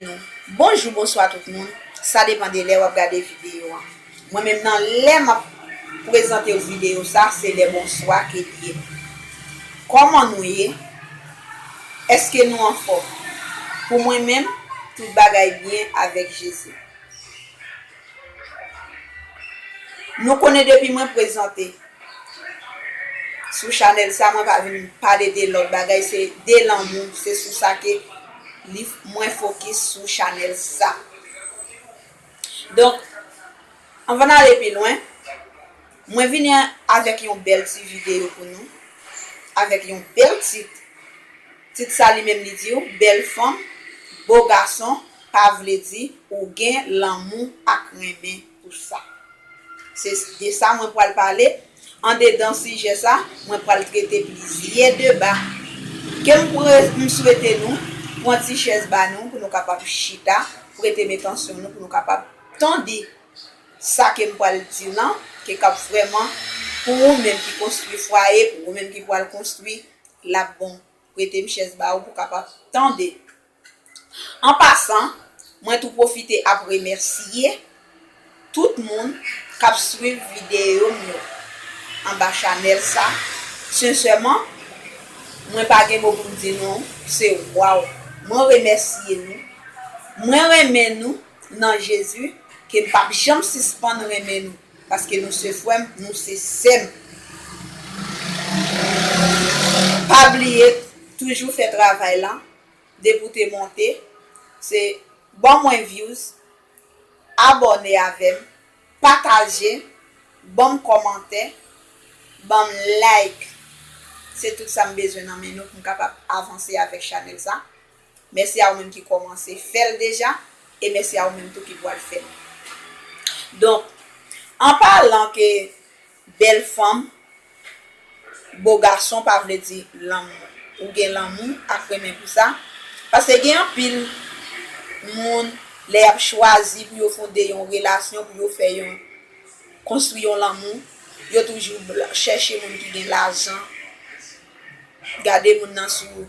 nou. Bonjou bonswa tout moun sa depan de lè wap gade video an mwen menm nan lè map prezantew video sa se lè bonswa ke li ye kòman nou ye eske nou anfòm pou mwen menm tout bagay byen avèk jezi. Nou konnen depi mwen prezante sou chanèl sa mwen pa vin pale de lòt bagay se de lanmou se sou sa ke mwen fokis sou chanèl sa donk anvan n ale pi lwen Mwen vini avèk yon bèl ti videyo pou nou, avèk yon bèl tit, tit sa li menm li diw bèl fanm, bo gason pa vle di ou gen lanmou ak renmen pou sa. Se de sa mwen pwal pale, andedan sijè sa mwen pwal trete plizyè deba ke m pre m swete nou pwan ti chèz ba nou pou nou kapab chita, prete m etansyon nou pou nou kapab tande Sa ke m pral di lan, ke kap vrèman pou ou menm ki konstwi fwaye, pou ou menm ki pwal konstwi, lap bon. Prete m chèz ba ou pou kapab tande. An pasan, mwen tou pwofite ap remèsye tout moun kap swiv videyo m yo anba chanèl sa, sensèman, mwen pa gen mo pou m di nou, se waw. Mwen remèsye nou. Mwen renmen nou. nan Jezi ke m pap janm sispann renmen nou paske nou se frè m, nou se sè m. Pa bliye toujou fè travay lan depi w te monte se ban mwen views abòne avè m pataje ban m kòmantè ban m like se tout sa m bezwen nan men nou pou m kapab avanse avèk chanèl sa. Mèsi a ou menm ki kòmanse fè l deja e mèsi a ou menm tou ki pwal fè l. Donk, an palan ke bèl fanm, bo gason pa vle di lanmou. Ou gen lanmou ak renmen pou sa, paske gen anpil moun lè y ap chwazi pou yo fonde yon relasyon, pou yo fè yon, konstwi yon lanmou, yo toujou chèche moun ki gen lajan, gade moun nan sou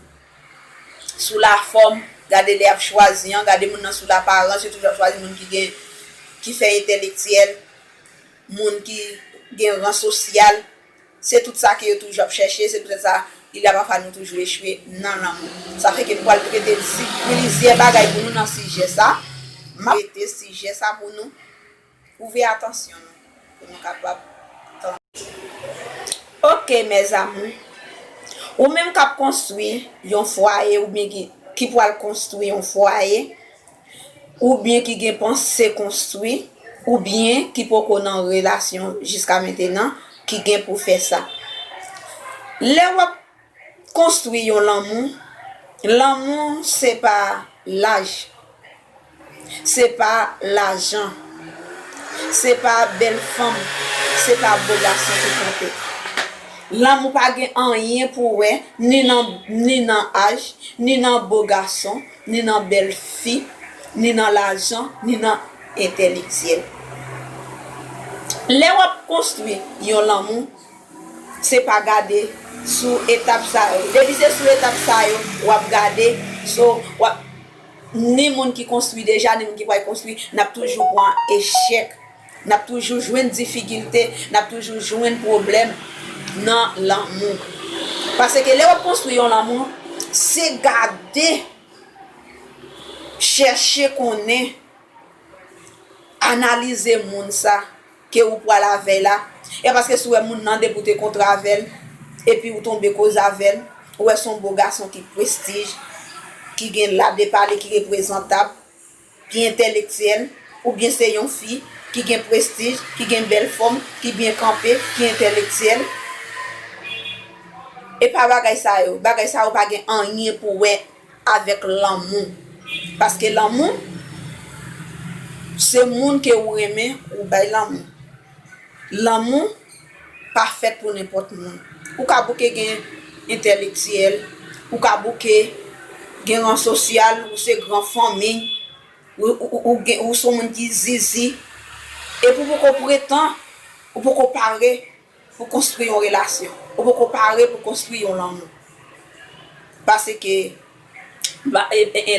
sou lafòm, gade lè y ap chwazi an, gade moun nan sou laparans, yo toujou ap chwazi moun ki gen, ki fè entèlektyèl, moun ki gen ran sosyal, se tout sa ke yo toujou ap chèche, se poutèt sa li la pafwa nou toujou echwe nan lanmou. Sa fè ke m pwal trete plizyè bagay pou nou nan sijè sa, m ap trete sijè sa pou nou. Ouvè atansyon nou pou nou kapab tande. Ok mes amours. Ou menm kap konstwi yon fwaye oubyen ki ki pwal konstwi yon fwaye oubyen ki gen panse konstwi oubyen ki poko nan relasyon jiska mentenan ki gen pou fè sa. Lè wap. Konstwi yon lanmou, lanmou se pa laj, se pa lajan, se pa bèl fanm, se pa bo gason ki konte. Lanmou pa gen anyen pou wè ni nan ni nan aj, ni nan bo gason, ni nan bèl fi, ni nan lajan, ni nan entèlektyèl. Lè w ap konstwi yon lanmou, Se pa gade sou etap sa yo. Depi se sou etap sa yo w ap gade, so w ap ni moun ki konstwi deja ni moun ki pral konstwi n ap toujou pran echèk, n ap toujou jwenn difikilte, n ap toujou jwenn pwoblèm nan lanmou. Paske lè w ap konstwi yon lanmou, se gade, chèche konnen, analize moun sa. ke ou pwal avèl la e paske si ou wè moun nan depi ou te kontre avèl epi ou tonbe koze avèl ou wè son bo gason ki prestij ki gen la de pale ki reprezantab ki entèlektyèl ou byen se yon fi ki gen prestij ki gen bèl fòm ki byen kanpe ki entèlektyèl epa bagay sa yo bagay sa yo pa gen anyen pou wè Avèk lanmou. Paske lanmou se moun ke ou renmen ou bay lanmou. Lanmou pa fèt pou nenpòt moun. Ou ka bouke gen entèlektyèl, ou ka bouke gen ran sosyal, ou se gran fanmi, ou son moun ki zizi, epi ou poko pretan, ou poko pare. Pou konstwi yon relasyon. Ou poko pare pou konstwi yon lanmou. Paske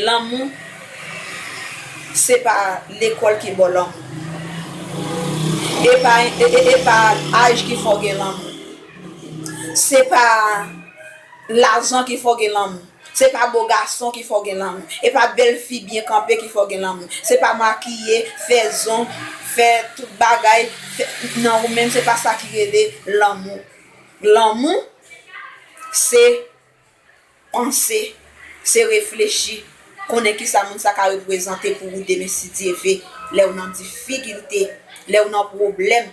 lanmou se pa lekòl ki baw lanmou. E pa aj ki fè w gen lanmou. Se pa lajan ki fè w gen lanmou. Se pa bo gason ki fè w gen lanmou. E pa bèl fi byen kanpe ki fè w gen lanmou. Se pa makiye, fè zong, fè tout bagay nan ou menm se pa sa ki rele lanmou. Lanmou se panse, se reflechi, konnen ki sa moun sa ka reprezante pou ou demen si Dye ve, lè ou nan difikilte, lè ou nan pwoblèm.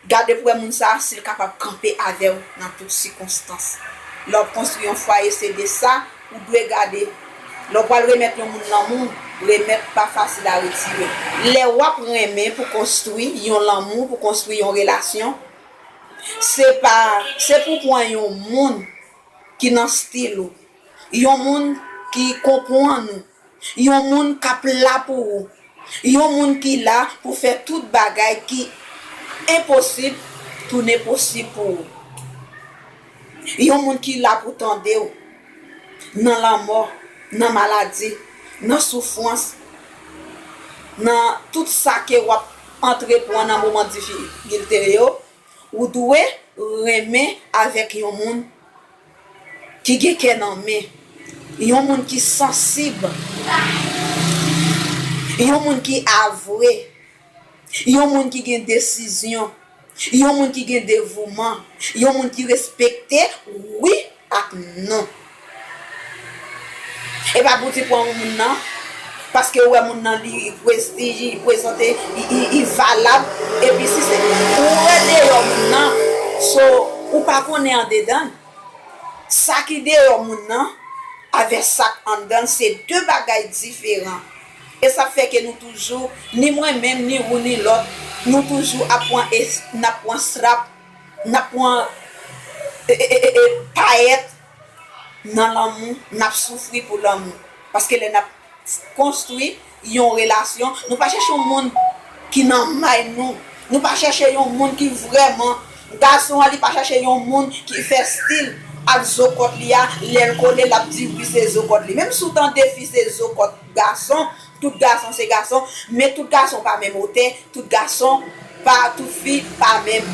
Gade pou wè moun sa a si l kapab kanpe avè w nan tout sikonstans. Lè w ap konstwi yon fwaye se de sa ou dwe gade. Lè w pral remèt yon moun lanmou, remèt pa fasil a retire. Lè w ap renmen pou konstwi yon lanmou, pou konstwi yon relasyon, se pa se pou w pran yon moun ki nan stil ou, yon moun ki konpwann ou, Yon moun k ap la pou ou. Yon moun ki la pou fè tout bagay ki enposib tounen posib pou ou. Yon moun ki la pou tande ou nan lanmò, nan maladi, nan soufwans, nan tout sa ke w ap antrepwan nan moman difikilte yo, ou dwe renmen avèk yon moun. Ki gen kè nan men. Yon moun ki sansib. Yon moun ki avwe. Yon moun ki gen desizyon. Yon moun ki gen devouman. Yon moun ki respekte wi ak non. Epa pou ti pwan ou moun nan paske ou wè moun nan li prestij li prezante li valab epi si se ou wè deyò moun nan so ou pa konnen andedan l sa ki deyò moun nan avè sak anndan l se 2 bagay diferan esa fè ke nou toujou ni mwen menm ni ou ni lòt nou toujou ap pwan nap pwan srap nap pwan payèt. nan lanmou, n ap soufri pou lanmou. Paske lè n ap konstwi yon relasyon, nou pa chèche yon moun ki nan may nou. Nou pa chèche yon moun ki vrèman. Gason an li pa chèche yon moun ki fè stil ak zokòt li a, lè l kole l ap di wi se zokòt li. Menm si w tande fi se zokòt gason, tout gason se gason, men tout gason pa menm otè, tout gason pa, tout fi pa menm.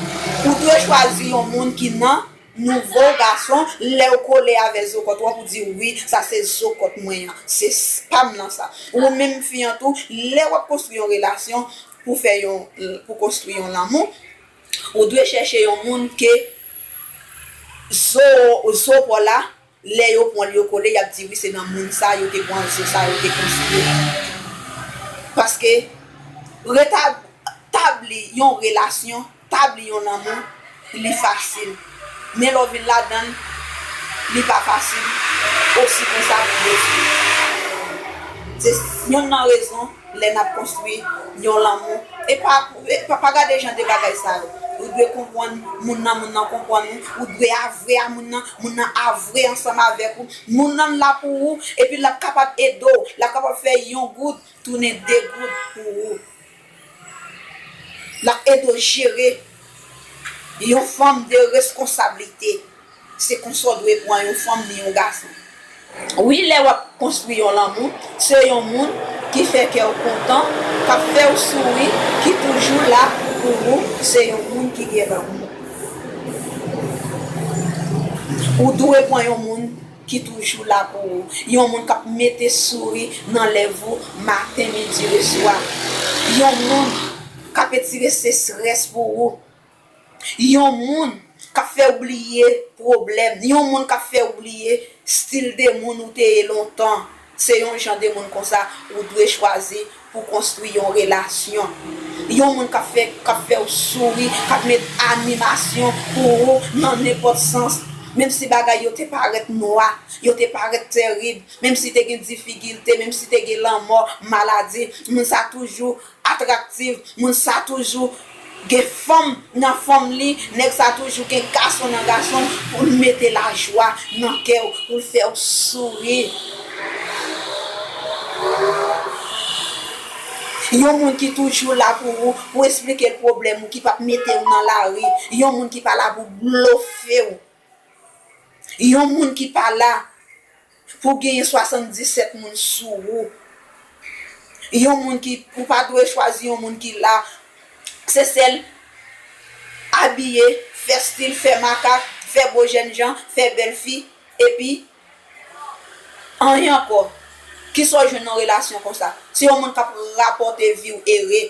Ou dwe chwazi yon moun ki nan. Nouvo gason lew kole avè zokot wap ou di wi sa se zokot mwen an se pam nan sa ou menm fi an tou lè wap konstwi yon relasyon pou fè yon pou konstwi yon lanmou ou dwe chèche yon moun ke zo zo paw la Lè yo pwan l yo kole yap di wi se nan moun sa yo te pwan zo sa yo te konstwi paske retab tabli yon relasyon tabli yon lanmou li fasil men lè w vin ladan l li pa fasil osi konsa pou detwi se yonn nan rezon lè nap konstwi yon lanmou e pa pa gade jan de bagay sa yo ou dwe konpwann moun nan moun nan konpwann ou ou dwe avwe a moun nan Moun nan a vre ansanm avèk ou, moun nan la pou ou epi lap kapab ede w, lap kapab fè yon goud tounen 2 goud pou ou. Lap ede w jere yon fanm de reskonsablite, se konsa w dwe pran yon fanm ni yon gason. Wi lè wap konstwi yon lanmou se yon moun ki fè kèw kontan kap fèw souri ki toujou la pou ou se yon moun ki gen lanmou ou dwe pran yon moun ki toujou la pou ou yon moun kap mete souri nan lèv ou maten midi le swa yon moun kap etire sesrès pou ou. Yon moun k ap fè w bliye pwoblèm, yon moun k ap fè w bliye stil de moun ou te ye lontan, se yon jan de moun konsa ou dwe chwazi pou w konstwi yon relasyon. Yon moun k ap fè k ap fè w souri, k ap met animasyon pou ou nan nenpòt sans, menm si bagay yo te parèt nwa, yo te parèt terib, menm si te gen difikilte, menm si te gen lanmò, maladi, moun sa toujou Atraktiv, moun sa toujou Gen fanm nan fanm li, nèg sa toujou gen gason nan gason l pou l mete lajwa nan kè w, pou l fè w souri. Yon moun ki toujou la pou ou, pou w esplike l pwoblèm ou, ki p ap mete w nan lari, yon moun ki pa la pou blofe w, yon moun ki pa la Pou genyen 77 moun sou ou yon moun ki ou pa dwe chwazi yon moun ki la se sèl abiye fè stil fè makak fè bo jènjan fè bèl fi epi anyen ankò kisa ou jwenn nan relasyon konsa se yon moun kap rapòte viw ere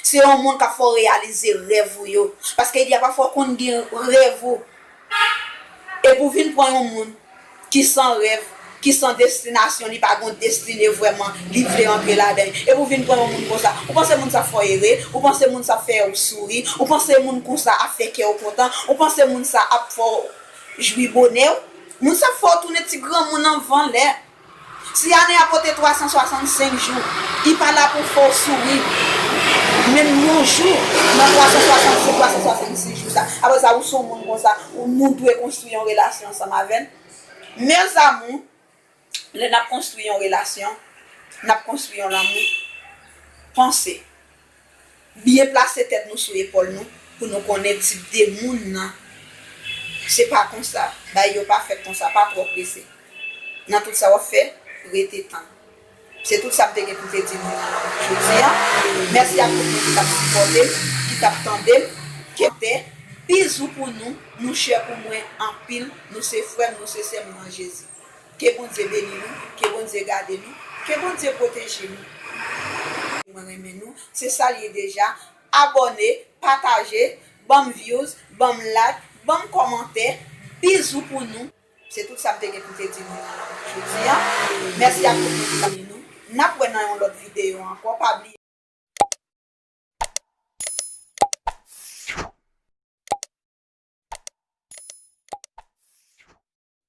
se yon moun kap fè w reyalize rèv ou yo paske gen pafwa konn gen rèv ou Epi w vin pran yon moun ki san rèv, ki san destinasyon, li pa gen yon destine vrèman li vle antre ladan li. Epi w vin pran yon moun konsa. Ou panse moun sa ap fè w ere? Ou panse moun sa ap fè ou souri? Ou panse moun konsa ap fè kè w kontan? Ou panse moun sa ap fè w jwi bonè w? Moun sa ap fè w tounen ti granmoun anvan lè. Si ane a pote 365 jou, li pa la pou fè w souri menm yon jou nan 365, 366 jou sa. Apre sa, ou se yon moun konsa, nou dwe konstwi yon relasyon ansanm avè l. Mèzamou, lè n ap konstwi yon relasyon, n ap konstwi yon lanmou. Panse. Byen plase tèt nou sou epòl nou pou nou konnen tip de moun nan se pa konsa, bagay yo pa fèt konsa, pa twò prese nan tout sa wap fè, rete tann. Se tout sa m te gen pou te di nou nan jodi an. Mèsi ak tout moun ki tap sipòte m, ki tap tande m, ke m te. Bizou pou nou, nou chè pou mwen anpil, nou se frè m, nou se sè m nan Jezi. Ke Bondye beni nou, ke Bondye gade nou, ke Bondye pwoteje nou. Mwen renmen nou, se sal ye deja, abòne, pataje, banm views, banm like, banm kòmantè, bizou pou nou. Se tout sa m te gen pou m te di nou jodi an. Mèsi ak tout moun ki tap nou. Nap wè nan yon lòt videyo ankò, pa bliye.